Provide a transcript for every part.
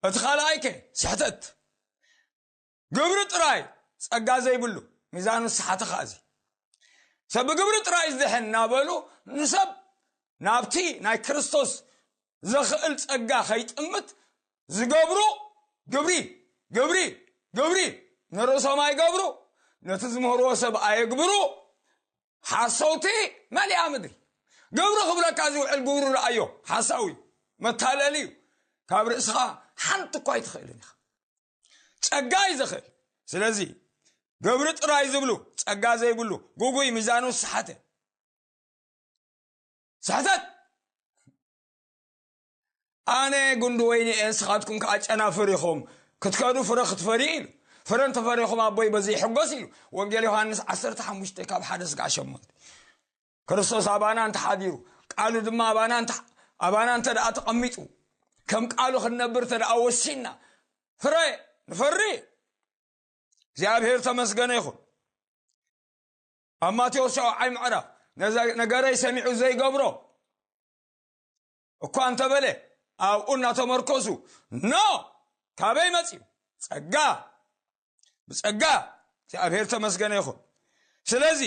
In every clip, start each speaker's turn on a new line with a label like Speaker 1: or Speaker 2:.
Speaker 1: እቲ ካልኣይ ከ ስሕተት ግብሪ ጥራይ ጸጋ ዘይብሉ ሚዛኑ ዝሰሓተ ከኣ እዚ ሰብ ብግብሪ ጥራይ ዝድሕን እናበሉ ንሰብ ናብቲ ናይ ክርስቶስ ዘኽእል ጸጋ ከይጥምት ዝገብሩ ግብሪ ግብሪ ግብሪ ንርእሶም ኣይገብሩ ነቲ ዝምህርዎ ሰብ ኣየግብሩ ሓሰውቲ መሊኣ ምድሪ ግብሪ ክብለካ ዝውዕል ግብሩ ረኣዮ ሓሳዊ መታለሊ እዩ ካብ ርእስኻ ሓንቲ እኳ ኣይትኽእልን ኢኻ ጸጋ እዩ ዝኽእል ስለዚ ግብሪ ጥራይ ዝብሉ ጸጋ ዘይብሉ ጉጉይ ሚዛኑ ሰሓተ ስሕተት ኣነ ጉንዲ ወይኒ እየ ንስኻትኩም ከዓ ጨናፍር ኢኹም ክትከዱ ፍረ ክትፈርዩ ኢሉ ፍረ እንተፈሪኹም ኣቦይ በዚ ይሕጎስ ኢሉ ወንጌል ዮሃንስ 15 ካብ ሓደ ስጋዕ ሸሞንተ ክርስቶስ ኣባና እንተሓዲሩ ቃሉ ድማ ኣባና ኣባና እንተ ደኣ ተቐሚጡ ከም ቃሉ ክንነብር እንተ ደኣ ወሲንና ፍረ ንፈሪ እግዚኣብሔር ተመስገነ ይኹን ኣብ ማቴዎስ ሸውዓይ ምዕራፍ ነገረይ ሰሚዑ ዘይገብሮ እኳ እንተበለ ኣብኡ እናተመርኮሱ ኖ ካበይ መፅዩ ፀጋ ብፀጋ እግዚኣብሔር ተመስገነ ይኹን ስለዚ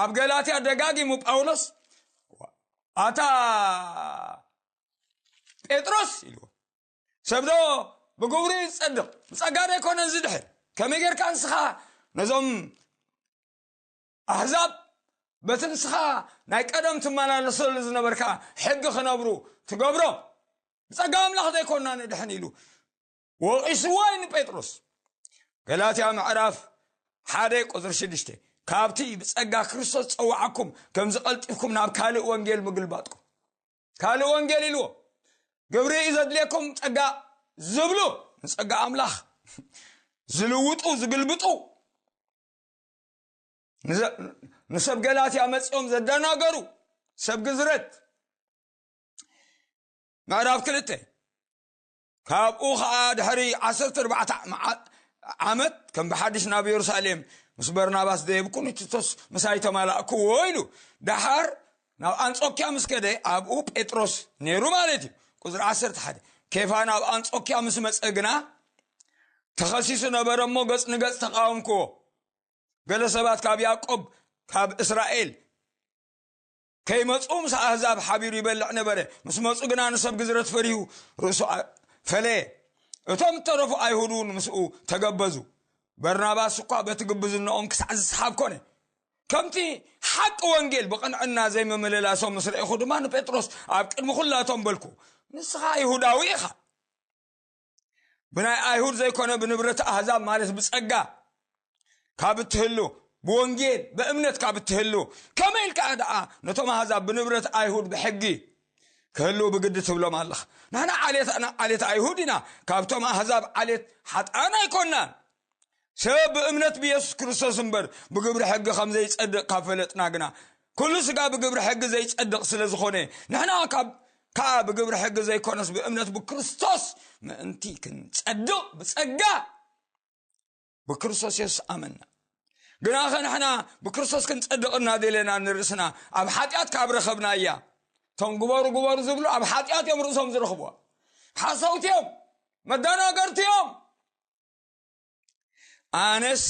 Speaker 1: ኣብ ገላትያ ደጋጊሙ ጳውሎስ ኣታ ጴጥሮስ ኢልዎ ሰብዶ ብግብሩ ይፀድቕ ብፀጋ ዶ ኣይኮነን ዝድሕር ከመይ ጌርካ ንስኻ ነዞም ኣሕዛብ በቲ ንስኻ ናይ ቀደም ትመላለሰሉ ዝነበርካ ሕጊ ክነብሩ ትገብሮም ብጸጋ ኣምላኽ ዘይኮና ንድሕን ኢሉ ወቒስዎ እዩ ንጴጥሮስ ገላትያ ምዕራፍ ሓደ ቁፅሪ ሽዱሽተ ካብቲ ብጸጋ ክርስቶስ ጸዋዓኩም ከምዚ ቀልጢፍኩም ናብ ካልእ ወንጌል ምግልባጥኩም ካልእ ወንጌል ኢልዎ ግብሪ እዩ ዘድልየኩም ጸጋ ዝብሉ ንጸጋ ኣምላኽ ዝልውጡ ዝግልብጡ ንሰብ ገላትያ መፂኦም ዘደናገሩ ሰብ ግዝረት ምዕራፍ ክልተ ካብኡ ከዓ ድሕሪ ዓሰርተ ኣርባዕተ ዓመት ከም ብሓድሽ ናብ የሩሳሌም ምስ በርናባስ ደየብኩ ንቲቶስ ምሳይ ተማላእክዎ ኢሉ ደሓር ናብ ኣንጾኪያ ምስ ከደ ኣብኡ ጴጥሮስ ነይሩ ማለት እዩ ቁፅሪ ዓሰርተ ሓደ ኬፋ ናብ ኣንጾኪያ ምስ መፀ ግና ተኸሲሱ ነበረ እሞ ገፅ ንገፅ ተቃወምክዎ ገለ ሰባት ካብ ያዕቆብ ካብ እስራኤል ከይመጽኡ ምስ ኣህዛብ ሓቢሩ ይበልዕ ነበረ ምስ መጹ ግና ንሰብ ግዝረት ፈሪሁ ርእሱ ፈለየ እቶም እተረፉ ኣይሁድ እውን ምስኡ ተገበዙ በርናባስ እኳ በቲ ግብዝነኦም ክሳዕ ዝሰሓብ ኮነ ከምቲ ሓቂ ወንጌል ብቕንዕና ዘይምምልላሶም ምስ ረኢኹ ድማ ንጴጥሮስ ኣብ ቅድሚ ዅላቶም በልኩ ንስኻ ይሁዳዊ ኢኻ ብናይ ኣይሁድ ዘይኮነ ብንብረት ኣህዛብ ማለት ብጸጋ ካብ እትህሉ ብወንጌል ብእምነት ካብ እትህሉ ከመይ ኢልካ ደኣ ነቶም ኣህዛብ ብንብረት ኣይሁድ ብሕጊ ክህሉ ብግዲ ትብሎም ኣለኻ ንሕና ዓሌት ዓሌት ኣይሁድ ኢና ካብቶም ኣህዛብ ዓሌት ሓጥኣን ኣይኮናን ሰብ ብእምነት ብየሱስ ክርስቶስ እምበር ብግብሪ ሕጊ ከም ዘይጸድቕ ካብ ፈለጥና ግና ኩሉ ስጋ ብግብሪ ሕጊ ዘይጸድቕ ስለ ዝኾነ ንሕና ካብ ከዓ ብግብሪ ሕጊ ዘይኮነስ ብእምነት ብክርስቶስ ምእንቲ ክንጸድቕ ብጸጋ ብክርስቶስ የሱስ ኣመና ግና ኸ ንሕና ብክርስቶስ ክንጸድቕ እናደለና ንርእስና ኣብ ሓጢኣት ካብ ረኸብና እያ እቶም ግበሩ ግበሩ ዝብሉ ኣብ ሓጢኣት እዮም ርእሶም ዝረኽብዋ ሓሰውቲ እዮም መደናገርቲ እዮም ኣነስ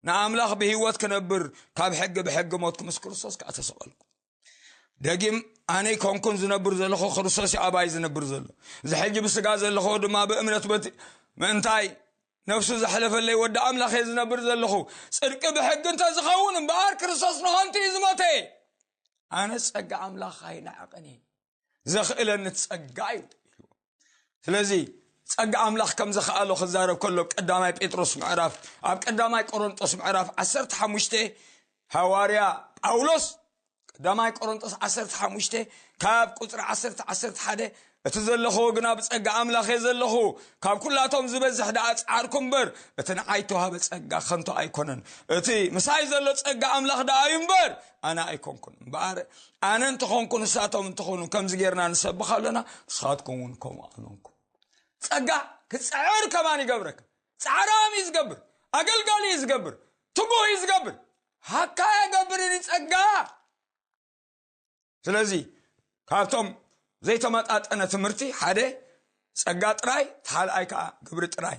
Speaker 1: ንኣምላኽ ብህይወት ክነብር ካብ ሕጊ ብሕጊ ሞትኩ ምስ ክርስቶስ ከዓ ተሰቐልኩ ደጊም ኣነ ኮንኩን ዝነብር ዘለኹ ክርስቶስ ኣባይ ዝነብር ዘሎ እዚ ሕጂ ብስጋ ዘለኹ ድማ ብእምነት በት ምእንታይ ነፍሱ ዘሕለፈለይ ወዲ ኣምላኽ እየ ዝነብር ዘለኹ ፅድቂ ብሕጊ እንተዝኸውን እምበኣር ክርስቶስ ንኸንቱ እዩ ዝሞተ ኣነ ፀጋ ኣምላኽ ኣይናዕቕን እየ ዘኽእለኒ ጸጋ እዩ ኢልዎ ስለዚ ጸጋ ኣምላኽ ከም ዘኽኣሎ ክዛረብ ከሎ ቀዳማይ ጴጥሮስ ምዕራፍ ኣብ ቀዳማይ ቆሮንጦስ ምዕራፍ 15 ሃዋርያ ጳውሎስ ቀዳማይ ቆሮንጦስ 15 ካብ ቁፅሪ 111 እቲ ዘለኹዎ ግና ብጸጋ ኣምላኽ እየ ዘለኹ ካብ ኩላቶም ዝበዝሕ ደኣ ጻዓርኩ እምበር እቲ ንዓይ ተዋህበ ጸጋ ከንቶ ኣይኮነን እቲ ምሳይ ዘሎ ጸጋ ኣምላኽ ደኣ እዩ እምበር ኣነ ኣይኮንኩን እምበኣር ኣነ እንተኾንኩ ንሳቶም እንተኾኑ ከምዚ ጌርና ንሰብኽ ኣለና ንስኻትኩም እውን ከምኡ ኣሎንኩም ጸጋ ክጽዕር ከማን ይገብረካ ጻዕራም እዩ ዝገብር ኣገልጋሊ እዩ ዝገብር ትጉህ እዩ ዝገብር ሃካ የገብርኒ ጸጋ ስለዚ ካብቶም ዘይተመጣጠነ ትምህርቲ ሓደ ጸጋ ጥራይ ተሓልኣይ ከዓ ግብሪ ጥራይ